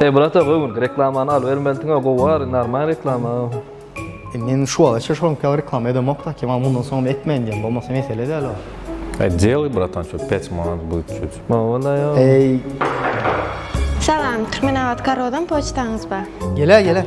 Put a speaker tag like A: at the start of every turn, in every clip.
A: Eý brat-a göwün reklamany al bermelisiňa gowary normal reklama. Men
B: şu wagtgaça şoňka reklama edemok daki maňa mundan soňam etmeýin diýen bolmasa mesele däl o. Eý deliý
C: bratan şu pet manat bu üçüç. Mowlaýo. Eý.
D: Salam, Türkmenabat Karodan poçtaňyz bar. Gele gele.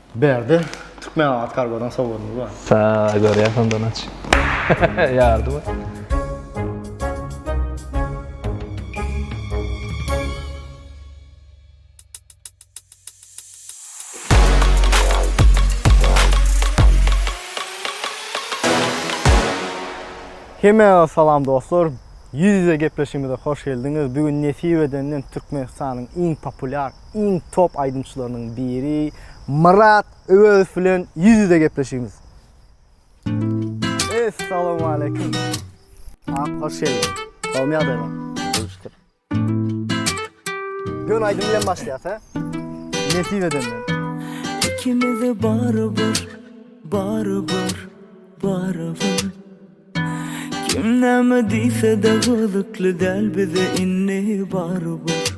B: Bärde Türkmenabat kargodan sowgadymyz bar. Saaa görýäs onda
A: naç. Ýardymy?
B: Hemmäňize salam dostlar. Ýüz-ýüze gepleşigimize hoş geldiňiz. Bu gün nesip edenden Türkmenistanyň iň populýar iň top aýdymçylarynyň biri Myrat Öwezow bilen ýüz-ýüze gepleşigimiz. Essalowmaleýkim. Ak hoş geldiň. Gowymy ýagdaýlar? Şükür. Gön aýdym bilen başlaýas, hä? Nesip edende. Ikimiz
E: barybir, barybir, barybir. Kim näme diýse-de gyzykly däl bize indi barybir.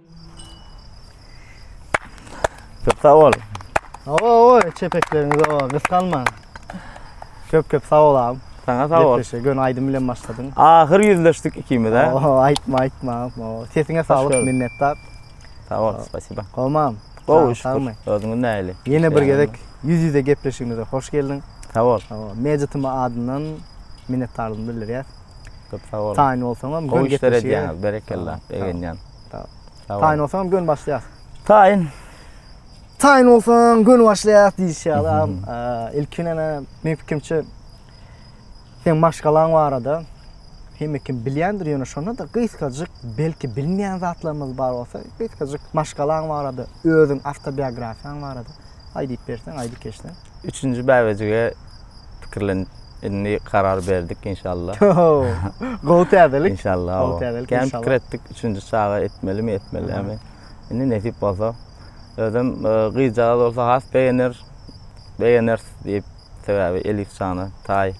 B: Köp sag bol. Awa awa çepekleriniz awa gysgalman. Köp köp sag bol abim. Sana sag bol. Gepleşe gön
C: aýdym bilen başladyň.
B: Ahyr ýüzleşdik
C: ikimiz ha. Awa aýtma aýtma. Awa
B: sesiňe saglyk minnetdar. Sag bol,
C: spasiba. Gowmam. Gowy
B: şükür.
C: Özüňiz
B: nähili?
C: Ýene bir gezek
B: ýüz ýüze gepleşigimize hoş geldiň. Sag bol. Awa
C: Magic adyndan
B: minnetdarlygymy bildirýär. Köp sag boluň.
C: Taýyn bolsaňam Gowy işler
B: edýäňiz.
C: Berekella. Begenýän. Sag boluň. Taýyn bolsaňam gön başlaýas.
B: Taýyn. Taýyn bolsaň gön başlaýas diýişi adam. Ilkin ene men pikimçe sen maşgalaň barada hemme kim bilýändir ýöne şonda da gysgajyk belki bilmeýän zatlarymyz bar bolsa gysgajyk maşgalaň barada özüň awtobiografiýaň barada aýdyp berseň aýdyp geçseň. Üçünji bäbejige
C: pikirlenip indi karar berdik inşallah. Gowy
B: täzelik. İnşallah. Gowy täzelik inşallah. Kän
C: pikir
B: etdik üçünji çaga
C: etmeli mi etmeli mi. Indi nesip bolsa. Özüm e, gyzjagaz bolsa has begener. Begener diýip sebäbi Elif jana tay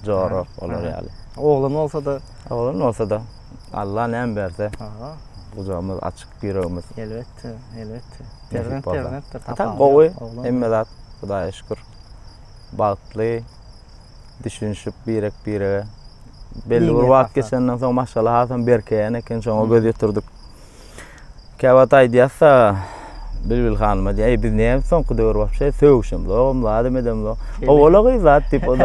C: jora olar ýaly. Oglan
B: bolsa da Oglan bolsa da
C: Allah näme berse. Aha. Gujagymyz açyk, ýüregimiz. Elbetde,
B: elbetde. Perzent
C: perzentdir. Hatta
B: gowy,
C: hemme zat Hudaýa şükür. Bagtly, düşünişip birek-birege. Belli bir wagt geçenden soň maşgala hasam berkeýän eken, şoňa göz ýetirdik. Käwagt aýdýas-da Bilbil hanyma diýýär, Eý, biz näme soňky döwür wapşe sögüşem zogam, zadam edem zog. Owala gyz zat diýip ol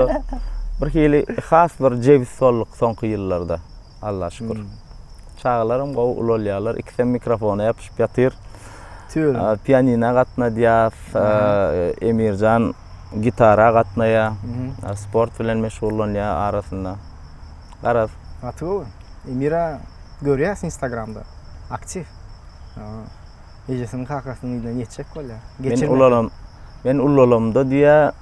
C: bir hili has bir jebis bolduk soňky ýyllarda. Alla şükür. Çagalaram gowy ulalýarlar. Ikisem mikrofona ýapyşyp ýatyr. Tüýr.
B: Pianina
C: gatnadýas. Emirjan gitara gatnaýar. Sport bilen meşgullanýar arasynda. Garaz. Gaty gowy.
B: Emira görýäs instagramda. Aktiw. Ejesiniň kakasynyň yzyna ýetjek bolýar. Men ulalam. Men
C: ulalamda diýä.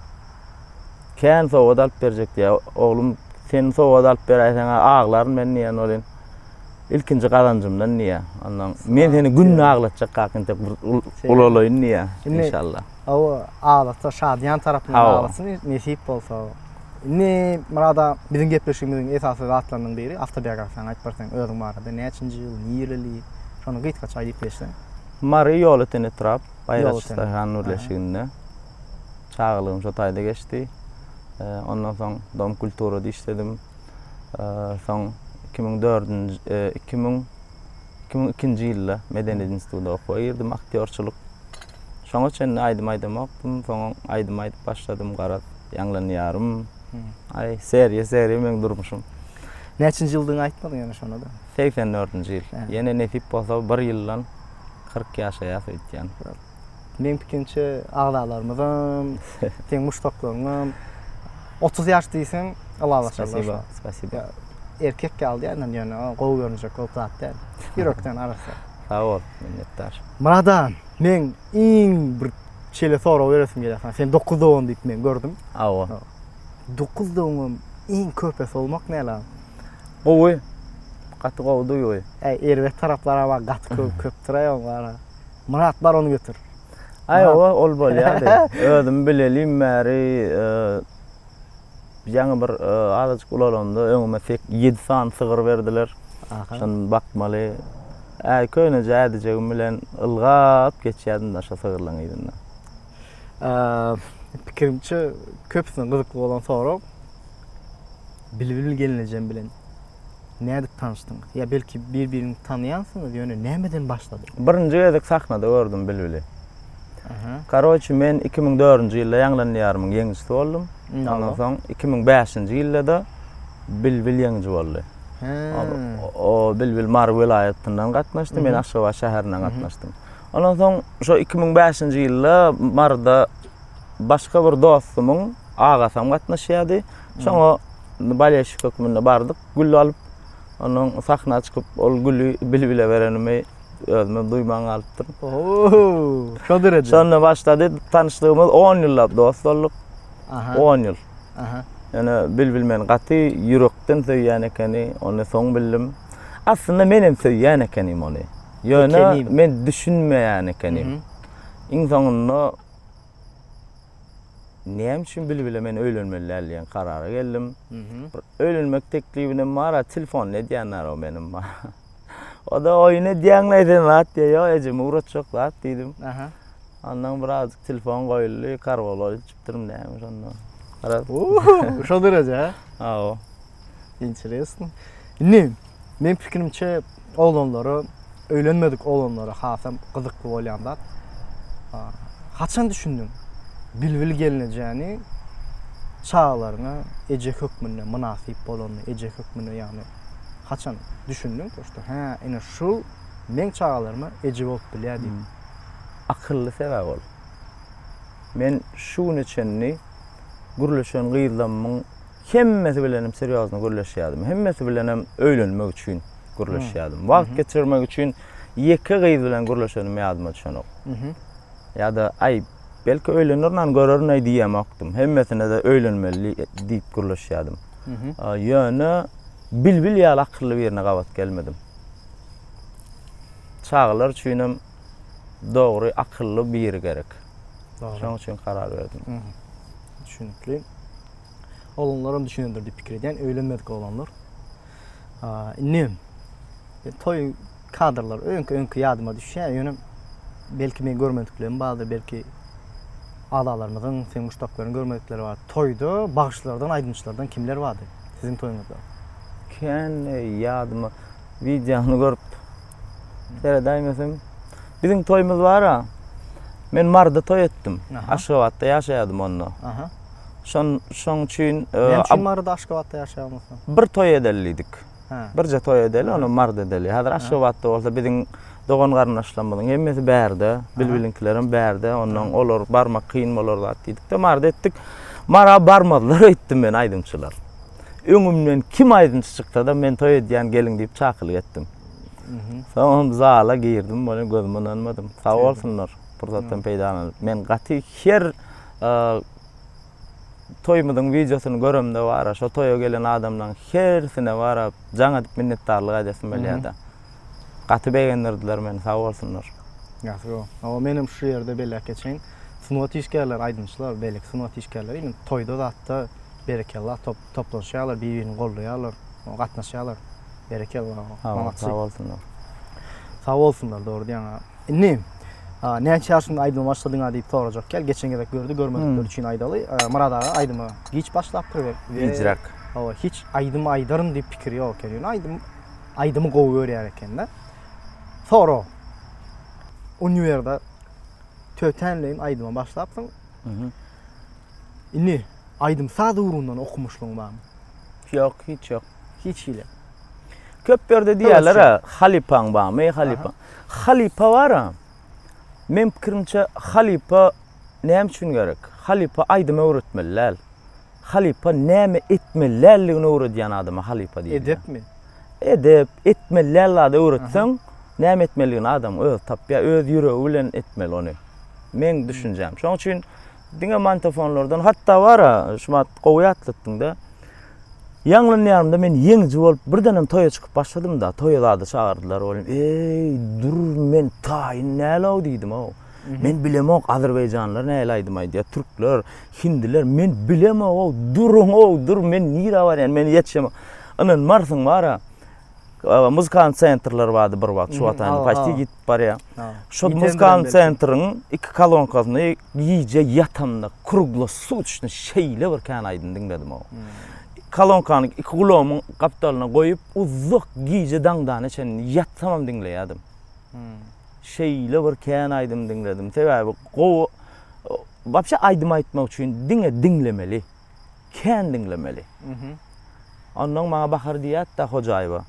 C: Kän sowgat alyp berjek diýä. Oglum sen sowgat alyp beräýseň aglaryn men diýen bolýan. ilkinji gazanjymdan diýýär. Ondan men seni günde aglatjak kaka entek bir ulalaýyn diýýär inşallah. Hawa,
B: adatda şadyýan tarapyndan aglasyn, nesip bolsa. Indi, Myrat aga, biziň gepleşigimiziň esasy zatlarynyň biri, awtobiografiýaňy aýdyp berseň özüň barada, näçinji ýyl, nireli, şony gysgaça aýdyp geçseň. Mary ýoly
C: Tene Trap, Baýraç daýhan birleşiginde. Çagalygym şo taýda geçdi. Ondan soň Dom kulturada işledim. Soň iki müň dördünji, iki müň. iki müň ikinji ýylda Medeniýet institutyna okuwa girdim, aktýorçylyk. Şoňa çenli aýdym aýdamokdym, soň aýdym aýdyp başladym, garaz, ýaňlanýarym. Aý, seriýa, seriýa meniň durmuşym. Näçinji ýyldygyňy
B: aýtmadyň ýöne şonda-da. Segsen dördünji ýyl.
C: Ýene nesip bolsa bir ýyldan kyrk ýaşaýas öýtýän. Meň
B: pikirimçe agzalarymyzam, seň muşdaklaryňam otuz ýaş diýseň ylalaşarlar. Spasiba, spasiba.
C: Erkek ýaly
B: diýýän, ýöne gowy görünjek bolup zat däl. Ýürekden arassa. Sag bol,
C: minnetdar. Myradan,
B: meň iň bir şeýle sorag beresim gelýär saňa. Sen dokuz dogan diýip men gördüm. Hawa.
C: Dokuz
B: dogaňam iň köpesi bolmak näle? Gowy.
C: Gaty gowy duýgy. Äý, erbet taraplary
B: bar, gaty köp, köpdür-aý oň bar. Myrat bar ony getir. Aý owa ol
C: bolýardy. Özüm bilelim bäri e, ýaňy bir e, azajyk ulalanda öňüme 7 sany sygyr berdiler. Şony bakmaly. Ä köne jädijegim bilen ylgap geçýärdim da şo sygyrlaryň yzyndan.
B: Pikirimçe köpüsine gyzykly bolan sorag. Bilbil gelnejem bilen Nädip tanyşdyňyz? Ýa belki bir-biriňizi tanaýansyňyz, ýöne nämeden başlady? Birinji gezek sahnada
C: gördüm Bilbili. Karoçi men iki müň dördünji ýylda ýaňlanýan ýarymyň ýeňijisi boldum. Ondan soň iki müň bäşinji ýyldada Bilbil ýeňiji boldy. O Bilbil Mary welaýatyndan gatnaşdy, men Aşgabat şäherinden gatnaşdym. Ondan soň şo iki müň bäşinji ýylda Maryda başga bir dostumyň agasam gatnaşýardy. Şoňa Bolelşik hökmünde bardyk, gül alyp, ondan sahna çykyp, ol güli Bilbile berenimi özümem duýman galypdyryn. Oo,
B: şo derejä. Şonda başlady,
C: tanyşdygymyz on ýyllap dost bolduk. Aha. On ýyl. Aha. Ýöne Bilbil meni gaty ýürekden söýýän ekeni, ony soň bildim. Aslynda menem söýýän ekenim ony. Ýöne Ekenim. men düşünmeýän ekenim. Iň soňunda Näme üçin Bilbile men öýlenmeli däl diýen karara geldim. Bir öýlenmek teklibinem bar-a, telefon edýänler-ow meniň. O-da oýun edýäňmi sen zat diýýär. Ýok, ejeme ugratjak zat diýdim. Ondan birazajyk telefon goýuldy, karwola ilçipdirim näme şonda. Garaz.
B: Şo dereje, hä? Hawa.
C: Interesno.
B: Indi meň pikirimçe oglanlara, öýlenmedik oglanlara hasam gyzykly bolýan zat. Haçan düşündiň Bilbil gelnejäni çagalaryňa eje hökmünde mynasyp bolanyny, eje hökmünde ýagny haçan düşündiň, to şto hä, ine şul meň çagalaryma eje bolup bilýär diýip. Akylly
C: sebäp ol. Men şu güne çenli gürleşen gyzlamyň Hemmesi bilenem serýozno gürleşýärdim. Hemmesi bilenem öýlenmek üçin gürleşýärdim. Wagt geçirmek üçin ýeke gyz bilen gürleşenim ýadyma düşenok. Ýa-da, aý, belki öýlenirin-ä, görerin-eý diýemokdym. Hemmesine-de öýlenmeli diýip gürleşýärdim. Ýöne Bilbil ýaly akylly birine gabat gelmedim. Çagalar üçinem dogry akylly biri gerek. Şonuň üçin karar berdim. Düşünikli.
B: Oglanlaram düşünendir diýip pikir edýän, öýlenmedik oglanlar. Indi e, toý kadrlar öňki-öňki ýadyma düşýär, ýöne belki men görmediklerim bardyr, belki azalarymyzyň, sen muşdaklaryň görmedikleri bar. Toýda bagşylardan, aýdymçylardan kimler bardy siziň toýuňyzda? Kän
C: e, ýadyma wideony görüp seredäýmesem. Biziň toýumyz bar-a. Men Marda toý etdim. Aşgabatda ýaşaýardym onda. Aha. Şon, şoň üçin... e, Näme üçin ab- Maryda Aşgabatda
B: ýaşaýamyzka? bir
C: toý edeli diýdik. Hä. Birje toý edeli, Aha.
B: onam
C: Maryda edeli. Häzir Aha. Aşgabatda bolsa biziň dogan-garyndaşlarymyzyň hemmesi bärde, bilbiliňkilerem bärde. Ondan olar barmak kyn bolar zat diýdik-de, Maryda etdik. Mara barmazlar öýtdüm men aýdymçylar. Öňümden kim aýdymçy çyksa-da men toý edýän geliň diýip çakylyk etdim. Mhm. Soňam zala girdim, muny gözüme ynanmadym. Sag bolsunlar. pursatdan peýdalanyp men gaty her toýumyzyň wideosyny göremde bara şo toýa gelen adamlaryň hersine bara jaň edip minnetdarlyk aýdasyň gelýärdi. Gaty begendirdiler meni sag bolsunlar. Ýagty go.
B: Awa men hem şu ýerde belläp geçeýin. Sungat işgärleri, aýdymçylar, beýleki sungat işgärleri indi toýda zatda berekella top toplanşýarlar, bir-birini goldaýarlar, gatnaşýarlar. Berekella. Sag
C: bolsunlar. Sag
B: bolsunlar, dogry diýýäň. Indi näçe ýaşyňda aýdyma başladyňa diýip sorajak ýaly, geçen gezek gördi, görmedikler üçin aýdaly. Myrat aga aýdyma giç başlapdyr we gijräk. Hawa, hiç
C: aýdym
B: aýdaryn diýip pikiri ýok eken. Ýöne aýdym aýdymy gowy görýär eken-de. Sorag. Uniwerda tötänleýin aýdyma başlapsyň. Indi aýdym saz ugrundan okumuşlygyň barmy? Ýok, hiç
C: ýok. Hiç hili.
B: Köp
C: ýerde diýýärler ha, halypaň barmy, halypa. Halypa bar-a. Men pikirimçe halypa näme üçin gerek? Halypa aýdym öwretmeli däl. Halypa näme etmeli däldigini öwredýän adama halypa diýilýär. Edepmi?
B: Edep,
C: etmeli däl zady öwretseň, näme etmelidigini adam özi tapýar, öz ýüregi bilen etmeli ony. Meň düşünjäm. Şonuň üçin Diňe mantofonlardan hatda bara şumat gowy ýatlatdyňda. Ýaňlanýarymda men ýeňiji bolup birdenem toýa çykyp başladymda, toýa zady çagyrdylar bolýan. Eý, dur men taýyn nälow diýdim-ow. Men bilemok azerbaýjanlar näle aýdym aýdýar, türkler, hindiler, men bilemok-ow, duruň-ow, dur men nirä barýan, men ýetişemok. Ynanmarsyň bara, Muzykal sentrler bardy bir wagt, şu wagt aýna paçti gitip barýar. Şu muzykal sentriň iki kolonkasynda gije ýatamda krugla sut içdim, şeýle bir kän aýdym diňledim o. Kolonkany iki gulagymyň gapdalyna goýup, uzak gije daňdana çenli ýatsamam diňleýärdim. Şeýle bir kän aýdym diňledim. Sebäbi gowy, wapşe aýdym aýtmak üçin diňe diňlemeli. kän diňlemeli. Ondan maňa Bahar diýýärdi-de Hojaýewa.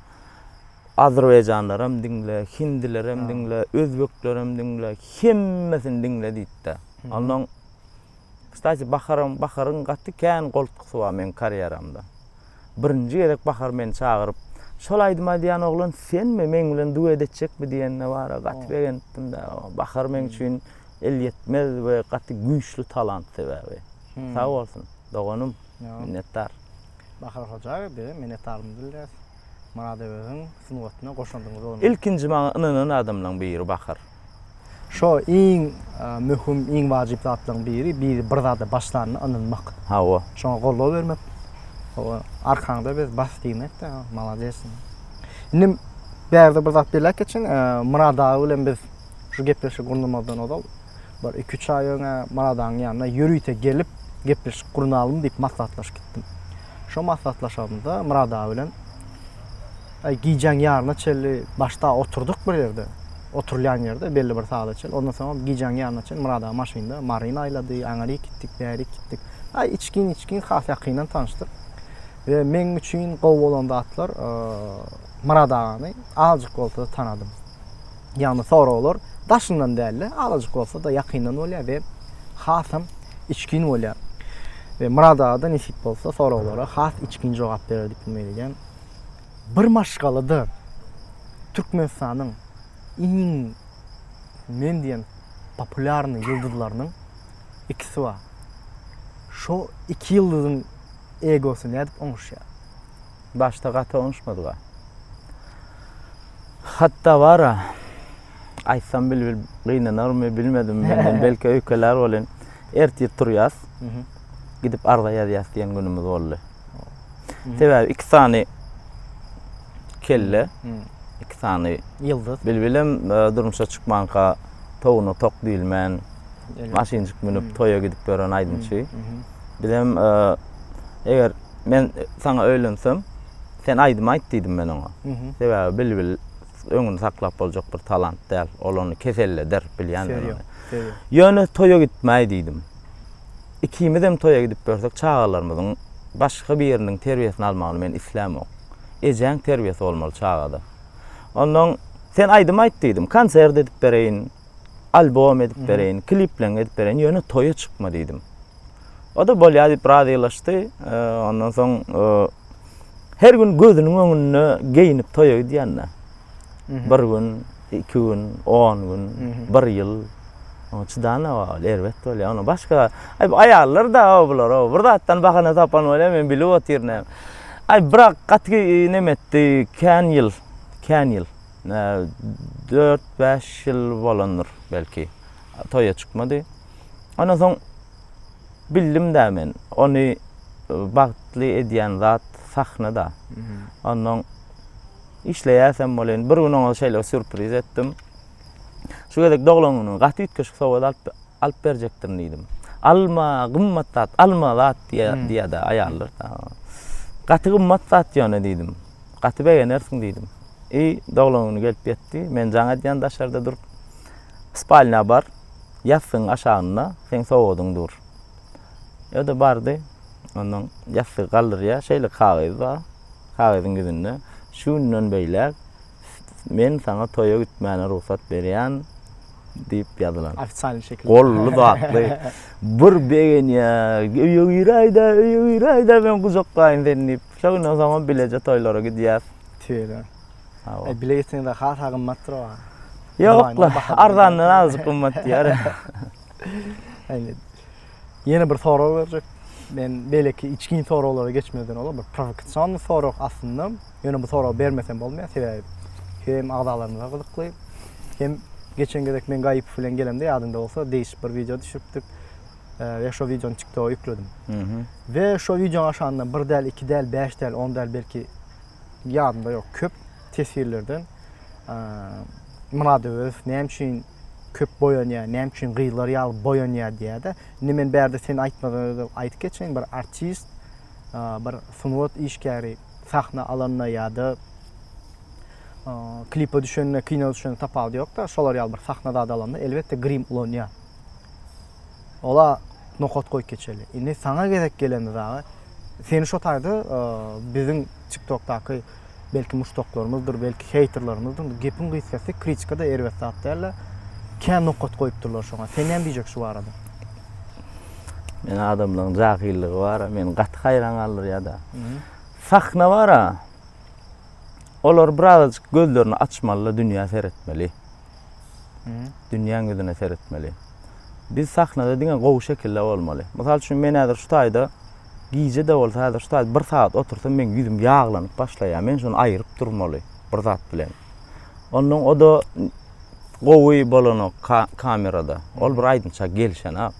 C: Azerbaýjanlaram diňle, hindilerem diňle, özbeklerem diňle, hemmesini diňle diýdi-de. Ondan Kstati, Baharam, Baharyň gaty kän goltgusy bar meniň karýeramda. Birinji gezek Bahar meni çagyryp, Şol aýdymy aýdýan oglan senmi, meň bilen duet etjekmi diýende bar-a, gaty begenipdim-de. Bahar meň üçin elýetmez we gaty güýçli talant sebäbi. Sag bolsun, doganym. Minnetdar. Bahar
B: hoja, biz minnetdarmyz bilýäs. Myrat Öweziň sungatyna goşandyňyz bolmasa. Ilkinji maňa ynanan
C: adamlaň biri Bahar. Şo
B: iň möhüm, iň wajyp zatlaň biri, biri bir zada başlanda ynanmak. Hawa. Şoňa goldaw
C: bermek.
B: Hawa, arkaňda biz bas diýmekde, malades. Indi bärde bir zat belläp geçeýin, Myrat aga bilen biz şu gepleşigi gurnamazdan ozal, bir iki-üç aý öň-ä Myradagyň ýanyna ýörite gelip, gepleşik gurnalymy diýip maslahatlaşyp gitdim. Şo maslahatlaşanymda Myrat aga bilen aý gijäň ýaryna çenli başda oturdyk bir ýerde, oturylýan ýerde belli bir sagada çenli. Ondan soňam gijäň ýaryna çenli Myrat aga maşynda Maryny aýlady, aňyryk gitdik, bärik gitdik. Aý içgin-içgin has ýakyndan tanyşdyk. We meň üçin gowy bolan zatlar, Myrat agany azajyk bolsa-da tanadym. Ýagny soraglar daşyndan däl-de, azajyk bolsa-da ýakyndan bolýar we hasam içgin bolýar. We Murad aga-da nesip bolsa soraglara has içgin jogap berer diýip umyt edýän. Bir maşgalada Türkmenistanyň iň men diýen populýarnyý ýyldyzlarynyň ikisi bar. Şo iki ýyldyzyň egosy nädip oňuşýar? Başda
C: gaty oňuşmadyga. Hatda bara aýtsam bilbil gynanarmy bilmedim menden belki öýkelär bolyn. Ertir turýas. Gidip arza ýazýas diýen günümiz boldy. Sebäbi iki sany kelle, iki sany ýyldyz. Bilbilem
B: e,
C: durmuşa çykmanka towuna tok diýilmän maşynjyk münüp toýa gidip ýören aýdymçy. Bizem e, eger Men saňa öýlensem, sen aýdym aýt diýdim men oňa. Sebäbi bilbil öňüni saklap boljak bir talant däl. Ol ony keselleder, bilýän men ony. Ýöne toýa gitmäý diýdim. Ikimizem toýa gidip ýörsek, çagalarymyzyň başga biriniň terbiýesini almagyny men islämok. Ejäň terbiýesi bolmaly çagada. Onnoň sen aýdym aýt diýdim. Konsert edip bereýin, albom edip bereýin, klipleň edip bereýin, ýöne toýa çykma diýdim. O da bolýar diýip razylaşdy. E, ondan soň e, her gün gözüniň öňünde geýinip toýa gidýände. Bir gün, iki gün, on gün, bir ýyl. Oňa çydan ol erbet bolýar. Onuň başga aý aýallar da bular, bir zatdan bahana tapan bolýar, men bilip otyryn. Aý birak gaty neme etdi, kän ýyl, kän ýyl. 4-5 ýyl bolandyr belki. Toýa çykmady. Ondan soň bildim-de men, ony bagtly edýän zat sahna-da. Ondan işleýäsem bolan, bir gün oňa şeýle sýurpriz etdim. Şu gezek doglan günüňe gaty üýtgeşik sowgat alyp alyp berjekdirin diýdim. Alma, gymmat zat, alma zat diýýär-de aýallar. Gaty gymmat zat ýöne diýdim. Gaty begenersiň diýdim. I doglan güni gelip ýetdi. Men jaň edýän daşarda durup. Spalnýa bar. ýassygyň aşagynda seň sowgadyň dur. Öde bardy. Ondan ýassygy galdyrýar. Şeýle kagyz bar. Kagyzyň ýüzünde şu günden beýläk men saňa toýa gitmäne rugsat berýän diýip ýazylan. Ofisial şekilde. Golly
B: zatly.
C: Bir begenýär. Öýe giräýdä, öýe giräýdä men gujaklaýyn seni diýip. Şo günden soňam bileje toýlara gidýäs. Tüýe-de.
B: Hawa. Bile gitseňiz hasa gymmatdyr o. Ýok,
C: arzandan azjyk gymmat diýer. Indi
B: ýene bir sorag berjek. Men beýleki içgin soraglara geçmeden ozal bir provokasion sorag aslynda. Ýöne bu soragy bermesem bolmaýar. Sebäbi hem agzalarymyza gyzykly, hem geçen gezek men Gaýyp bilen gelemde ýadyňda bolsa degişip bir wideo düşüripdik. Ve şu videonun TikTok'a yükledim. Ve şu videonun aşağında bir del, iki del, beş del, on del belki ýadymda ýok. Köp teswirlerden Murad Öwezow näme üçin köp boýanýar, näme üçin gyzlar ýaly boýanýar diýýär-de. Indi men bärde sen aýtmadan özüm aýdyp geçeýin, bir artist, bir sungat işgäri sahna alanda ýa-da klipe düşende, kino düşende tapawudy ýok-da, şolar ýaly bir sahna zady alanda elbetde grim ulanýar. Ola nokat goýup geçeli. Indi saňa gezek gelende dagy seni şo taýda biziň tiktokdaky belki muşdaklarymyzdyr, belki heýterlarymyzdyr, gepiň gysgasy kritika-da erbet zat däl-de. Kä nokat goýupdyrlar şoňa. Sen näme diýjek şu barada?
C: Men adamlaryň jahyllygy bar-a, meni gaty haýran galdyrýar-da. Sahna bar-a, olar birazajyk gözlerini açmaly-da, dünýä seretmeli. dünýäň ýüzüne seretmeli. Biz sahnada diňe gowy şekilde bolmaly. Mysal üçin, men häzir şu taýda gije-de bolsa, häzir şu taýda bir sagat otursam, meň ýüzüm ýaglanyp başlaýar. Men şuny aýryp durmaly bir zat bilen. Ondan o-da gowy bolanok kamerada. Ol bir aýdymça gelişenok.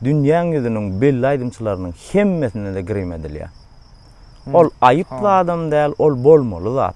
C: Dünýäň ýüzüniň belli aýdymçylarynyň hemmesine-de grim edilýär. Ol aýyp zadam däl, ol bolmaly zat.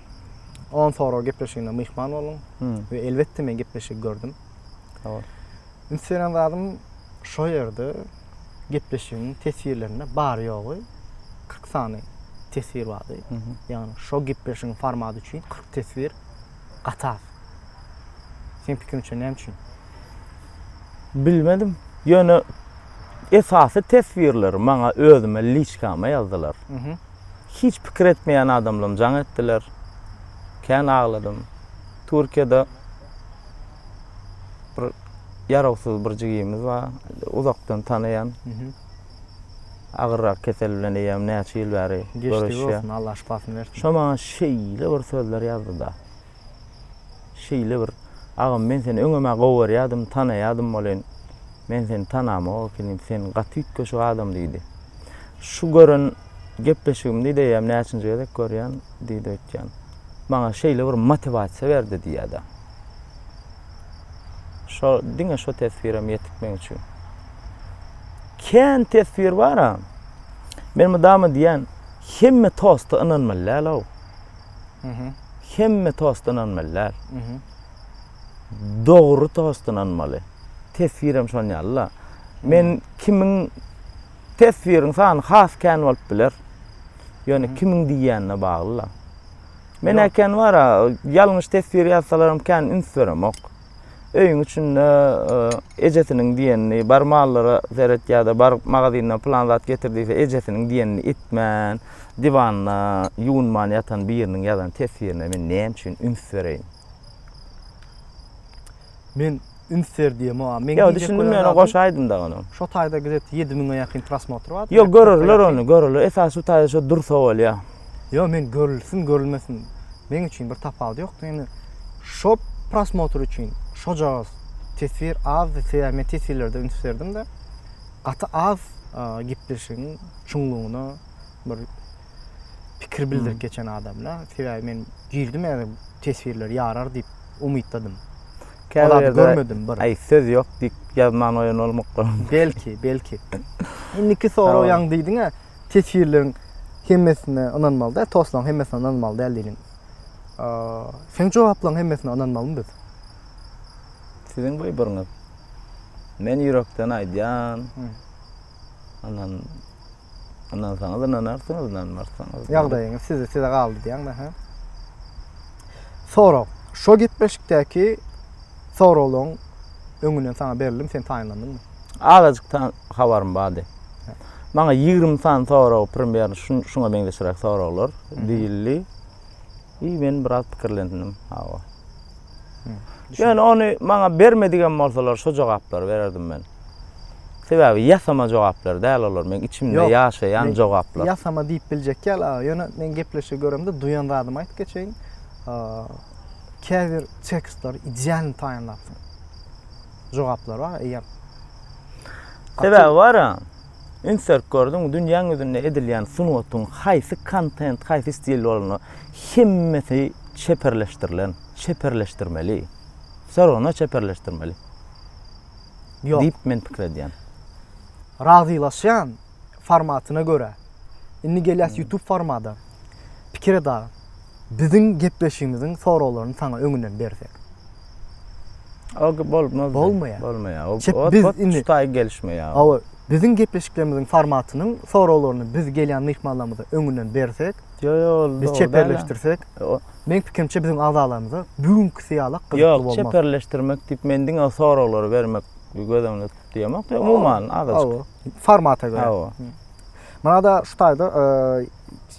B: On sorag gepleşigine myhman boldum we elbetde men gepleşigi gördüm.
C: Üns beren
B: zadym şo ýerde gepleşigiň teswirlerinde bary ýogy 40 sany teswir bardy. Ýagny şo gepleşigiň formaty üçin 40 teswir gaty az. Seň pikiriňçe näme üçin? Bilmedim.
C: Ýöne esasy teswirleri maňa özüme liçkama ýazdylar. hiç pikir etmeýän adamlam jaň etdiler. Kän agladym. Türkiýede bir ýarawsyz bir jigimiz bar. Uzakdan tanaýan. Agyrrak kesel bilen eýýäm näçe ýyl bäri Geçdigi görüşýär. bolsun, Allah şypasyny bersin.
B: Şo maňa şeýle
C: bir sözler ýazdy-da. şeýle bir Agam men seni öňem-ä gowy görýädim, tanaýadym welin, men seni tanamok ekenim, sen gaty üýtgeşik adam diýdi. Şu gören gepleşigimdi diýýän, näçinji gezek görýän diýdi öýtýän. Maňa şeýle bir motiwasiýa berdi diýýär-de. Şo diňe şo teswirem ýetik meň üçin. Kän teswir bar-a. Men mydama diýýän, hemme tosta ynanmaly däl-ow. Hemme tost ynanmaly däl. Dogry tost ynanmaly. Teswir hem şon ýaly-la. Men kimiň teswiriň sany has kän bolup biler. Ýöne kimiň diýýänine bagly-la. Men äken bar-a, ýalňyş teswir ýazsalaram kän üns beremok. Öýüň içinde e, ejesiniň diýenini, bar mallara seret ýa-da bar magazyndan plan zat getir diýse, ejesiniň diýenini etmän, diwanda ýuwunman ýatan biriniň ýazan teswirine men näme üçin üns bereýin?
B: Men üns ber diýem, a men Ýa düşündim ýöne goşa
C: aýdym da ony. Şu taýda gazet 7000-e
B: ýakyn prosmotr bar. Ýok, görerler ony,
C: görerler. Esas şu taýda şu dursa bolýar. Ýok, men
B: görülsin, görülmesin, meň üçin bir tapawudy ýokdy. Ýöne şo prosmotr üçin şojagaz teswir azdy, sebäbi men teswirlerde üns berdim-de, gaty az gepleşigiň çuňlugyna bir pikir bildirip geçen adamla. Sebäbi men girdim ýa-da teswirler ýarar diýip umytdadym. Käbir görmedim bir. Aý, söz ýok diýip
C: ýazman goýan bolmakdyryn. Belki, belki.
B: Indiki sorag ýaňy diýdiň-ä. Teswirleriň hemmesine ynanmaly däl, tostlaryň hemmesine ynanmaly däl diýlin. Seň jogaplaryň hemmesine ynanmalymy biz?
C: Siziň wybryňyz. Men ýürekden aýdýan. Ynan, ynansaňyz ynanarsyňyz, ynanmarsaňyz. Ýagdaýyňyz size, size
B: galdy diýýäňmi, hä? Sorag. Şo gepleşikdäki soraglaryň öňünden saňa berildim, sen taýynlandyňmy? Azajyk ta
C: habarym bardy. Maňa ýigrimi sany sorag, primýerno şuňa meňzeşräk soraglar diýildi. I men biraz pikirlendim. Hawa. Ýöne ony maňa bermedigem bolsalar, şo jogaplary bererdim men. Sebäbi ýasama jogaplar däl olar, meň içimde ýaşaýan jogaplar. Ýasama diýip biljek
B: ýaly, aga. Ýöne men gepleşigi göremde duýan zadymy aýdyp geçeýin. Käbir tekstleri idealny taýynlapsyň. jogaplary bar eýýäm.
C: Sebäbi bar-a, üns berip gördüňmi, dünýäň ýüzünde edilýän sungatyň haýsy kontent, haýsy stil bolanda, hemmesi çeperleşdirilen, çeperleşdirmeli, wse rawno çeperleşdirmeli
B: diýip men pikir
C: edýän.
B: Razylaşýan formatyna görä. Indi gelýäs YouTube formada. Pikir et aga. Biziň gepleşigimiziň soraglaryny saňa öňünden bersek.
C: O ki bolmaz. Bolmaýar. Bolmaýar. O
B: Çep, biz ot indi-
C: çutaý
B: gelişmeýär.
C: Hawa, biziň
B: gepleşiklerimiziň formatynyň soraglaryny biz gelýän myhmanlarymyza öňünden bersek, Ýo ýo ol biz dogry däl-ä. çeperleşdirsek, O- meň pikimçe biziň agzalarymyza bugünkisi ýalak gyzykly Ýok, bolmaz. çeperleşdirmek
C: diýip men diňe o soraglary bermek göz öňünde tutup diýemok. Ýok, umuman azajyk. Hawa, formata görä. Hawa. Munada
B: şu taýda eee,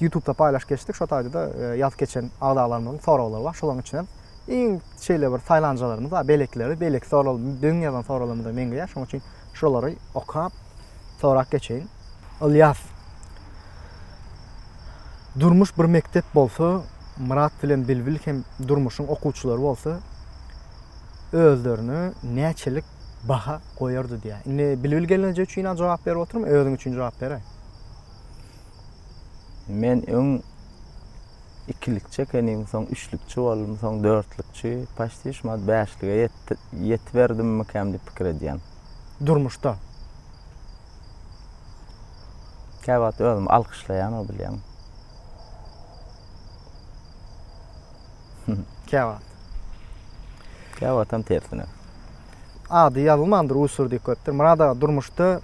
B: Ýutubda paýlaşyp geçdik, şo taýda-da ýazyp geçen agzalarymyzyň soraglary bar. Şolaryň içinden iň şeýle bir saýlanjalarymyz bar, beýlekileri, beýleki sorag, biziň ýazan soraglarymyza meňzeýär. Şonuň üçin şolary okap, sorap geçeýin. Ylýas, Durmuş bir mekdep bolsa, Myrat bilen Bilbil hem durmuşyň okuwçylary bolsa, özlerine näçelik baha goýardy diýýär. Indi Bilbil gelneje üçin-ä jogap berip oturma, özüň üçin jogap ber-ä.
C: Men öň ikilikçi ekenim, soň üçlükçi boldum, soň dörtlükçi, paşti şumat bäşlige ýetiberdimmikäm diýip pikir edýän. Durmuşda? Kä wagt özümi alkyşlaýanok bilýäňmi? Kä wagt? Kä wagtam tersine. Ady
B: ýazylmandyr, Usurdyk goýupdyr. Myrat aga, durmuşda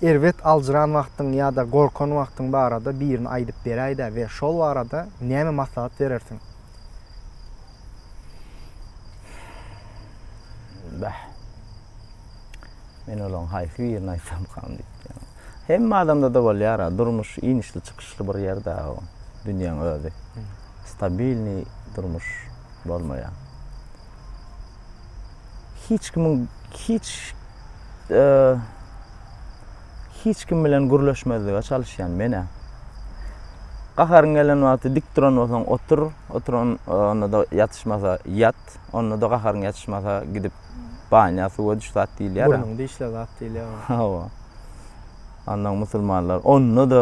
B: Erbet aljyran wagtyň ýa-da gorkan wagtyň barada birini aýdyp beräýdä we şol barada näme maslahat berersiň?
C: Bäh. Men olaň haýsy birini aýtsamkam diýipdim. Hemme adamda-da bolýar-a, durmuş inişli-çykyşly bir ýer dagy bu, dünýäň özi. Stabilnyý durmuş bolmaýar. Hiç kimiň hiç hiç kim bilen gürleşmezlige çalyşýan men-ä. Gaharyň gelen wagty dik duran bolsaň otur, oturan onda-da ýatyşmasa ýat, onda-da gaharyň ýatyşmasa gidip banýa suwa düş zat diýilýär-ä. Burnuňy dişle zat
B: diýilýär. Hawa.
C: Ondan musulmanlar onda-da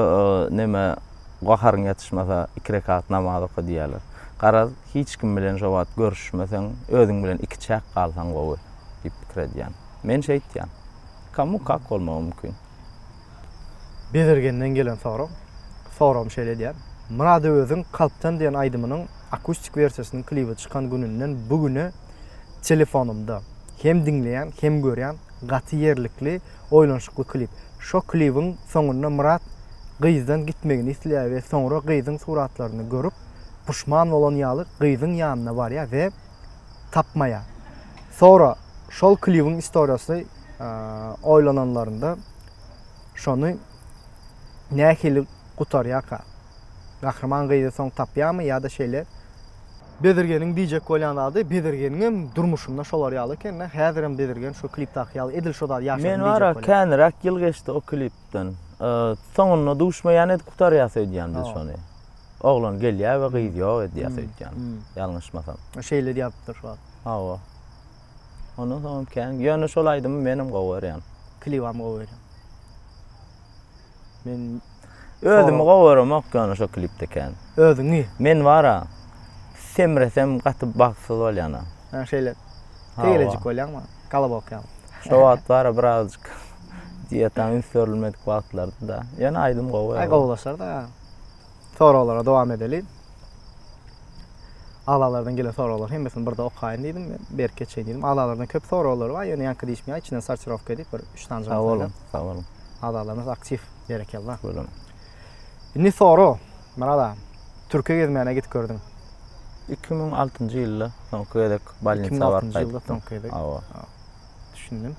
C: neme Gaharyň ýatyşmasa, iki rekat namaz oka diýýärler. Garaz, hiç kim bilen şo wagt görüşmeseň, özüň bilen ikiçäk galsaň gowy diýip pikir edýän. Men şeýtýän. Komu kak bolmagy mümkin? Bezirgenden
B: gelen sorag. Soragymy şeýle edýän. Myrady özüň kalpdan diýen aýdymynyň akustik wersiýasynyň klibi çykan gününden bu güne telefonymda hem diňleýän, hem görýän gaty ýerlikli, Oýlanyşykly klip. Şo klibiň soňunda Myrat gyzdan gitmegini isleýär we soňra gyzyň suratlaryny görüp puşman bolan ýaly gyzyň ýanyna barýar we tapmaýar. Soňra şol klibiň istoriýasy oýlananlarynda şony nähili gutarýarka? Gahryman gyzy soň tapýarmy ýa-da şeýle? Bezirgeniň diýjek bolýan zady Bezirgeniňem durmuşynda şolar ýaly ekende häzirem Bezirgen şu klipdaky ýaly edil şo zady ýaşadym diýjek bolýar. Men wara käniräk
C: ýyl geçdi o klipden. Soňunda duşmaýan edip gutarýas öýdýän biz şony. Oglan gelýä we gyz ýok edýäs öýtýän ýalňyşmasam. Şeýle diýäpdir
B: şu wagt. Hawa.
C: Ondan soňam kän. Ýöne şol aýdymy menem gowy görýän. Klibam gowy görýän.
B: Men özümi gowy
C: göremok ýöne şo klipde kän. Özüňi? Men
B: bara
C: semresem gaty bagtsyz bolýan. Ha şeýle.
B: Tegelejik bolýaňmy? Galabok ýaly. Şo wagt bara
C: birazjyk diýetaň üns berilmedik wagtlardy-da. Ýöne aýdym gowy. Aý gowulaşar-da.
B: Soraglara dowam edeliň. Aglalardan gelen soraglar hemmesini birde okaýyn diýdim. Berk geçeýin diýdim. Aglalardan köp soraglar bar, ýöne ýaňky diýişmeýär. Içinden sortirowka edip bir üç sany jogap berdim. Sag boluň.
C: Aglalarymyz aktiw,
B: berekella. Bolun.
C: Indi
B: sora, Myrat aga, Türkiýe gezmäne gidip gördüň. 2006-njy
C: ýylda soňky gezek bolnisa barkaýdyk. 2006-njy ýylda soňky
B: gezek. Hawa.
C: Düşündim.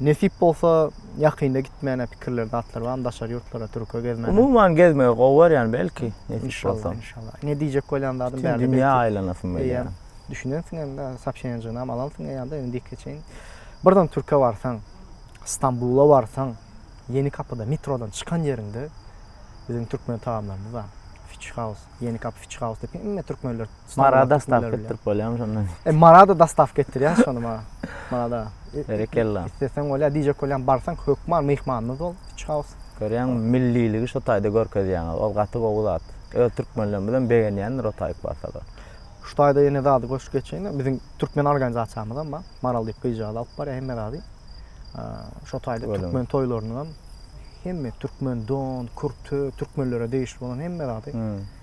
B: Nesip bolsa ýakynda gitmäne pikirler zatlar barmy daşary ýurtlara türke gezmäne? Umuman gezmegi gowy
C: görýän belki nesip bolsa. Inşallah.
B: Ne diýjek bolýan zadym bärde. Dünýä aýlanasym gelýär.
C: Düşünensiň indi
B: sopşenjinam alansyň eýýämde indi dikke çeýin. Birden türke barsaň, Stambula barsaň, Ýeni kapyda metrodan çykan ýeriňde biziň türkmen tagamlarymyz bar. Fiçhaus, Ýeni kapy fiçhaus diýip hemme türkmenler Mara dastap
C: getirip bolýamy şondan? E, Marada dastap
B: getirýär şony maňa. Marada. Berekella.
C: Isteseň bolýar, diýjek
B: bolýan barsaň hökman myhmanymyz bol, Pitch House. Görýäň, milliligi
C: şu taýda görkezýäňiz. Ol gaty gowy zat. Öz türkmenlerimiz hem begenýändir o taýyk barsalar. Şu taýda ýene
B: zady goşup geçeýin. Biziň türkmen organizasiýamyz hem bar. Maral diýip gyzjagaz alyp barýar hemme zady. Şu taýda türkmen toýlarynyň hem hemme türkmen don, kürte, türkmenlere degişli bolan hemme zady.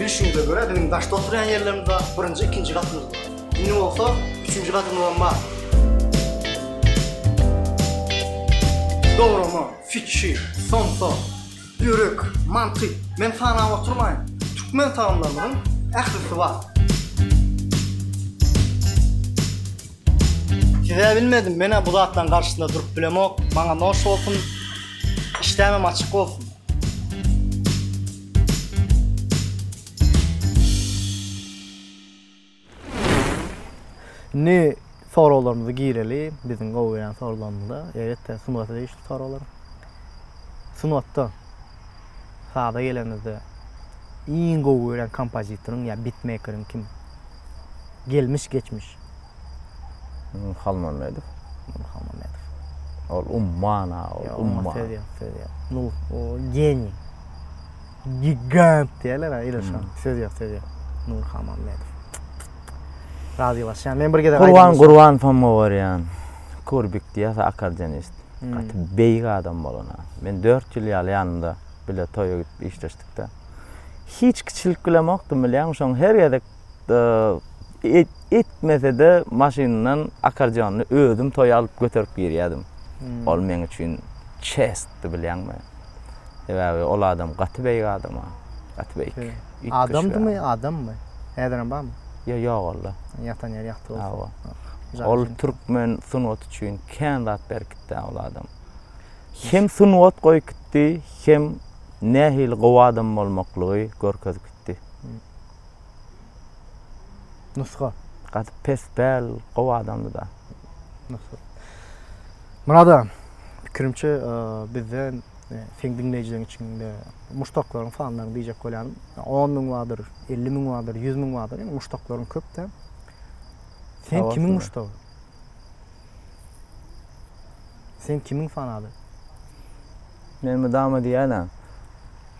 B: Bilşimize görä biziň daşda oturýan ýerlerimizde birinji, ikinji gatymyz bar. Indi bolsa üçünji gatymyzam bar. Dograma, fitçi, somsa, börek, manty, men sanap oturmaýyn. Türkmen tagamlarymyzyň ählisi bar. Size bilmedim menä bu zatlaryň garşysynda durup bilemok maňa noş bolsun işdämem açyk bolsun. Indi soraglarymyzy gireli biziň gowy gelen sorularymyza eýebet-de sungata degişli soraglar. Sungatda. saza gelenimizde iň gowy gören kompozitoryň ýa bitmekeriň kim? Gelmiş geçmiş.
C: Nur Halmamedow. Nur
B: Halmamedow. Ol
C: umman ha, ol umman. Ýok, söz ýok,
B: söz ýok. Nur o geniý. Gigant diýerler ha, ýöne şoň. Söz ýok, söz ýok. Nur Halmamedow. Razylaşýan. Men bir gezek aýdym. Gurban Gurban soň
C: gowarýan. Kurbik diýýär, akordionist. Gaty beýik adam bolana. Men dört ýyl ýaly ýanynda bile toýa gidip işleşdikde. Hiç kiçilik bilemokdym bilýäňmi, şoň her gezek etmesede maşynyndan akardionyny özüm toýa alyp göterip girýädim. Ol meň üçin çestdi bilýäňmi. Sebäbi ol adam gaty beýik adama. Gaty beýik. Adamdymy,
B: adammy? Häzirem barmy? Ýo ýogaldy.
C: Ýatan ýeri ýagty
B: bolsun. Hawa. Ol
C: türkmen sungaty üçin. Kän zat berkitdä ol adam. Hem sungat goýup gitdi, hem nähili gowy adam bolmaklygy görkezip gitdi.
B: Nusga. Gaty pes
C: däl, gowy adamdy-da. Nusga.
B: Murad aga, pikirimçe, bizden seň diňleýjileriň içinde muşdaklaryň sanlaryny diýjek bolýan. On müň bardyr, elli müň bardyr, ýüz müň bardyr. Ýöne muşdaklaryň köp-dä. Sen kimiň muşdagy? Sen kimiň fanaly?
C: Men mydama diýýän-ä.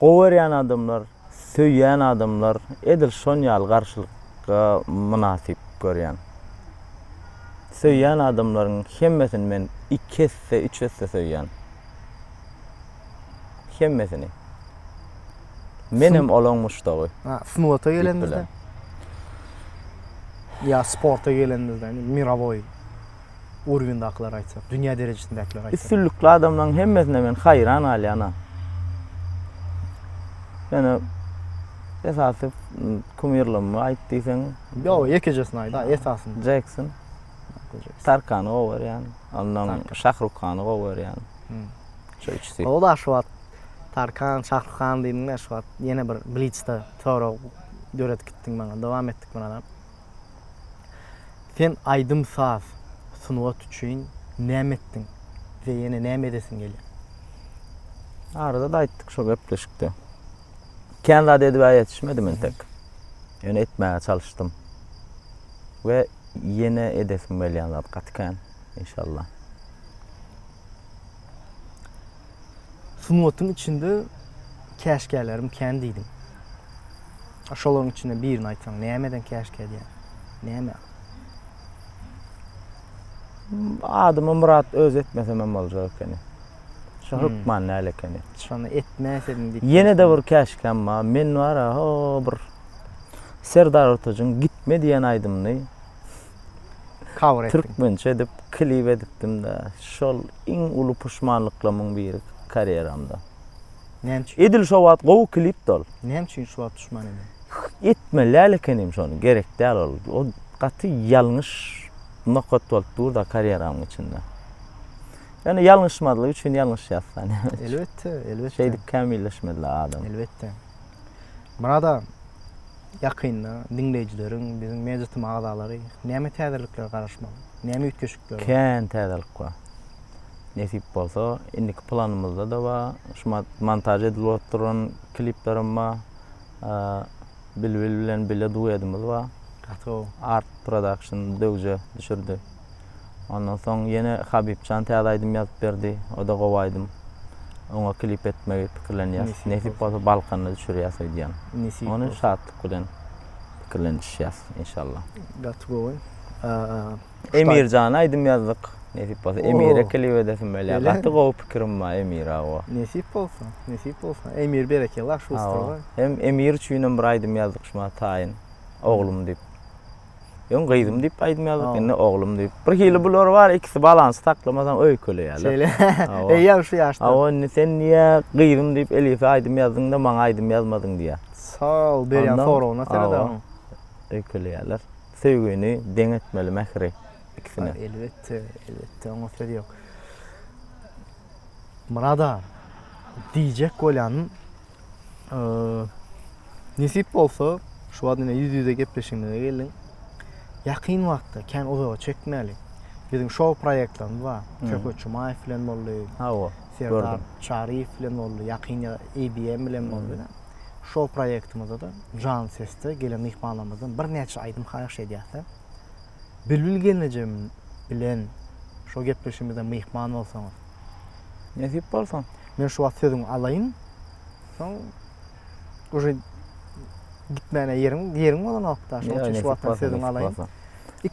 C: Gowerýän adamlar, söýýän adamlar edil şon ýaly garşylykga mynasyp görýän. Söýýän adamlaryň hemmesini men iki esse, üç esse söýýän. Hemmesini. Menem olaň muşdagy. Ha, sungata
B: gelenimizde. Ýa sporta gelenimizde, indi mirowoý urwindakylary aýtsak, dünýä derejesindäkileri aýtsak. Üstünlikli adamlaryň hemmesine
C: men haýran galýan-a. Ýöne esasy kumirlygymmy aýt diýseň. Ýok, ýekejesini
B: aýda, esasyny. Jekson.
C: Tarkany gowy görýän. Ondan Şahrukhany gowy görýän. Şu üçüsi. O da şu wagt
B: Tarkan Şahrukhan diýdiňdä şu wagt ýene bir blitzde sorag döredip gitdiň maňa. Dowam etdik munalam. Sen aýdym saz sungat üçin näme etdiň we ýene näme edesiň gelýär?
C: Arada-da aýtdyk şo gepleşikde. Kän zat edibä ýetişmedim entek. Ýöne etmäge çalyşdym. We ýene edesim gelýän zat gaty kän, inşallah.
B: Sungatyň içinde käşgälerim kän diýdim. Şolaryň içinde birini aýtsaň, nämeden käşgä diýýär? Näme?
C: Adymy Myrat öz etmesem hem boljak ekeni. Şu hmm. hökman näl ekeni. Şony etmäsedim
B: diýip. Ýene de bir käşkäm
C: bar. Men bar ha bir Serdar Ortajyň gitme diýen aýdymyny
B: cover etdim. Türkmençe edip klip
C: edipdim-de. Şol iň uly puşmanlyklamyň biri karýeramda. Näme
B: üçin? Edil şo wagt gowy
C: klipdi ol. Näme üçin şo wagt puşman
B: ediň? Etmeli däl
C: ekenim şony, gerek däl ol. O gaty ýalňyş nokat bolup dur-da karýeramyň içinde. Ýöne ýalňyşmazlyk üçin ýalňyşýas-da näme üçin? Elbetde, elbetde.
B: Şeýdip kämilleşmeli-dä
C: adam. Elbetde.
B: Murad aga, ýakynda diňleýjileriň, biziň Mediatim agzalary näme täzeliklere garaşmaly? Näme üýtgeşikler bar? Kän täzelik
C: bar. Nesip bolsa, indiki planymyzda-da bar. Şu montaž edilip oturan kliplerim bar. Bilbil bilen bile duedimiz bar. Gaty gowy. Art
B: Production
C: döwje düşürdi. Ondan soň ýene Habibjan täze aýdym ýazyp berdi. O-da gowy aýdym. Oňa klip etmegi pikirlenýäs. Nesip bolsa Balkanda düşürýäs öýdýän. Ony şatlyk
B: bilen
C: pikirlenişýäs inşallah. Gaty gowy. Emirjana aýdym ýazdyk. Nesip bolsa Emire klip edesim bolýar. Gaty gowy pikirim
B: bar
C: Emire owo. Nesip bolsa, nesip
B: bolsa. Emir berekella şu ussata. Hem Emir üçinem
C: bir aýdym ýazdyk şumaha taýyn. Oglum diýip. Ýöň gyzym diýip aýdym ýazyp, indi oglum diýip. Bir hili bular bar, ikisi balansy saklamasaň öýkeleýärler. Şeýle.
B: Eýýäm şu ýaşda. Hawa, indi sen niýe
C: gyzym diýip Elifä aýdym ýazdyň-da, maňa aýdym ýazmadyň diýýär. Sal berýän
B: soragyna seredäň. Öýkeleýärler.
C: Söýgini deň etmeli mähri ikisine. Elbetde,
B: elbetde, oňa söz ýok. Murada, diýjek bolýanym, Nesip bolsa, şu wagt ine ýüz-ýüze gepleşigimize geldiň. Ýakyn wagtda, kän uzaga çekmäli. Biziň şou proýektlerimiz bar. Söhbet Jumaýew bilen boldy. Hawa. Serdar Çaryýew bilen boldy. Ýakynda IBM bilen boldy. Şou proýektimizde-de Jan sesde gelen myhmanlarymyzdan birnäçe aýdym haýyş edýäs-de. Bilbil gelnejem bilen şo gepleşigimize myhman bolsaňyz. Nesip
C: bolsa, men şu wagt sözüňi
B: alaýyn. Soň uje gitmäne ýeriň, ýeriň bolanok-da. Şoň üçin şu wagtdan sözüňi alaýyn.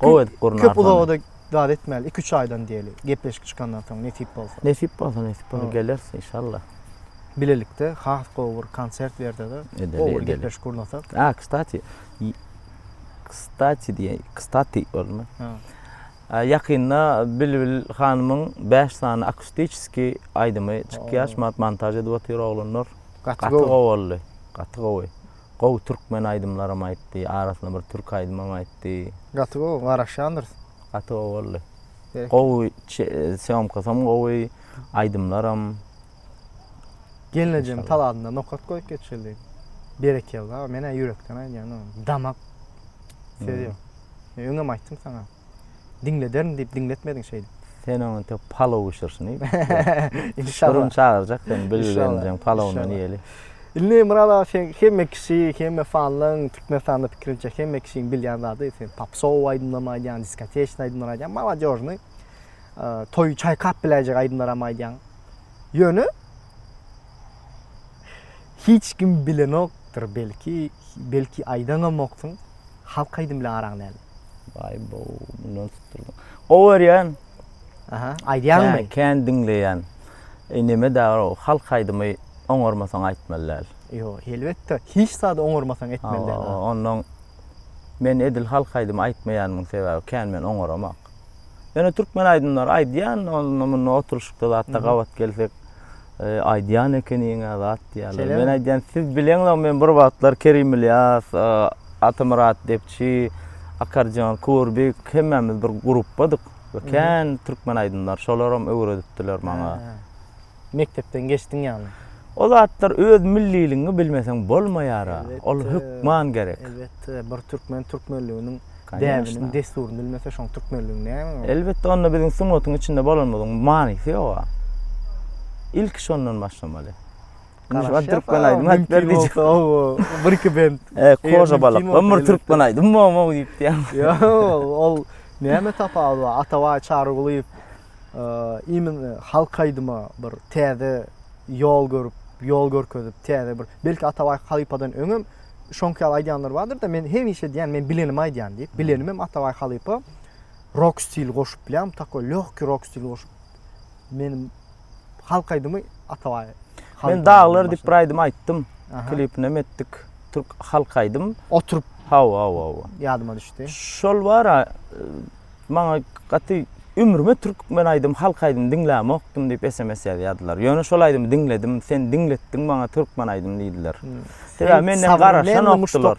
B: Gowy edip gurnar. Köp uzaga-da zat etmäli. Iki-üç aýdan diýeli. Gepleşik çykandan soň nesip bolsa. Nesip bolsa, nesip bolsa
C: geleris inşallah. Bilelikde
B: has gowy bir konsert berse-de, gowy bir gepleşik gurnasak. A, kstati,
C: kstati diýäý, kstati bolma. Ýakynda Bilbil hanymyň bäş sany akustiçeski aýdymy çykýar, şumat montaž edip otyr oglanlar. Gaty gowy boldy. Gaty gowy. Gowy türkmen aýdymlaram aýtdy, arasyna bir türki aýdymam aýtdy. Gaty gowy,
B: garaşýandyrys. Gaty gowy boldy.
C: Gowy, sýomkasam gowy, aýdymlaram.
B: Gelnejem talabyna nokat goýup geçildi. Berekella, men-ä ýürekden aýdýan, damak söz ýok. Men öňem aýtdym saňa. Diňlederin diýip diňletmediň şeýdip. Sen oňa indi
C: palaw bişirsin. Şurum çagyrjak
B: seni
C: bilgenjeň palawyndan iýeli.
B: Indi Myrat aga sen hemme kişi, hemme fanlaryň Türkmenistanda pikirimçe hemme kişiniň bilýän zady sen popsow aýdymlarymy aýdýaň, diskoteçny aýdymlary aýdýaň, malodežnyý toýy çaýkap biläýjek aýdymlaram aýdýaň. Ýöne hiç kim bilenokdyr belki, belki aýdanamoksyň, halk aýdym bilen araň näme? Baý bu,
C: mundan tutdurdyň. Gowy örýän. Aha,
B: aýdýaňmy? Kän diňleýän.
C: E näme dabar o, halk aýdymy oňarmasaň aýtmaly däl. Ýok, elbetde,
B: hiç zady oňarmasaň etmeli däl. Onnoň
C: men edil halk aýdymy aýtmaýanymyň sebäbi kän men oňaramak. Ýöne türkmen aýdymlary aýdýan, onda munda oturyşykda zatda gabat gelsek, e, aýdýan ekeniň zat diýýärler. Men aýdýan, siz bileňizok, men bir wagtlar Kerim Ilyas, e, Atamyrat Depçi, Akarjan Kurbik hemmämiz bir gruppadyk. Kän türkmen aýdymlary şolaram öwredipdiler maňa. mekdepden
B: geçdiň ýagny. O zatlar
C: öz milliligiňi bilmeseň bolmaýara, ol hökman gerek. Elbetde, bir
B: türkmen türkmenliginiň däbini, dessuryny bilmese şoň türkmenligiň näme ol? Elbetde onda biziň
C: sungatyň içinde bolanymyzyň manysy ýoga. Ilki şondan başlamaly. Garaşýas türkmen aýdymy aýdyp ber diýjek. Bir iki
B: bent. E, Koža balykdan
C: bir türkmen aýdymy bolmaly diýip diýýän. Ýok, ol
B: näme tapawudy bar? Atabaý Çarygulyýew imin halk aýdyma bir täze ýol görüp, ýol görkezip, täze bir, belki Atabaý halypadan öňem şoňky ýaly aýdýanlar bardyr-da, men hemişe diýýän, men bilenimi aýdýan diýip, bilenimem Atabaý halypa rok stil goşup bilýän, takoý lёgki rok stil goşup, meniň halk aýdymy Atabaý. Men Daglar
C: diýip bir aýdym aýtdym, klipinem etdik, türk halk aýdym. Oturyp. Hawa,
B: hawa, hawa.
C: Ýadyma düşdi.
B: Şol bar-a,
C: Maňa gaty Ömrüme türkmen aýdym halk aýdym diňlämokdym diýip sms ýazýardylar. Ýöne şol aýdymy diňledim, sen diňletdiň maňa türkmen aýdym diýdiler. Sebäbi menden garaşanokdylar.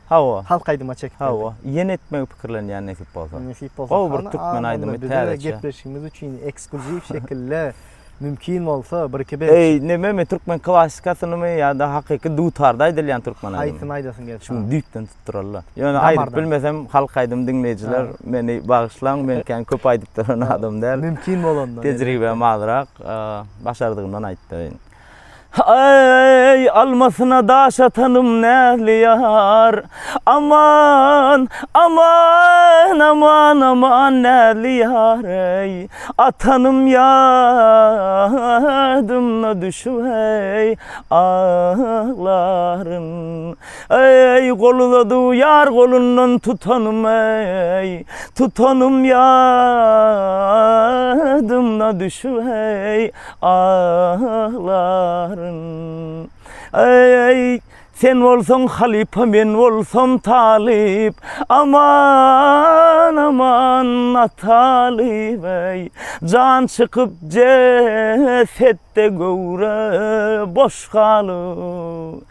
C: Hawa. Halk aýdyma çekip.
B: Hawa. Ýene etmegi
C: pikirlenýän nesip bolsa. Nesip bolsa. Gowy bir
B: türkmen aýdymy
C: täze. Gepleşigimiz üçin
B: ekskluziw şekilde mümkin bolsa bir iki bes. Eý, näme men türkmen
C: klassikasynymy ýa-da hakyky dutarda aýdylýan türkmen aýdymy. Haýsyny aýdasyň gelýär? Şuny
B: düýpden aýdyp duralla.
C: Ýöne aýdyp bilmesem halk aýdym diňleýjiler meni bagyşlaň men kän köp aýdyp duran adam däl. Mümkin bolanda. Tejribem
B: azrak
C: başardygymdan aýdyp bereýin. Eý almasyna daş atanym näzli ýar Aman aman aman aman näzli ýar eý Atanym ýadymna düşüp eý aglaryn Eý, gol uzadyw ýar golundan tutanym eý, tutanym ýadymna düşüw eý, aglaryn. Eý, sen bolsaň halypa men bolsam talyp, aman, aman natalyp eý, jan çykyp jesetde göwre boş galyp.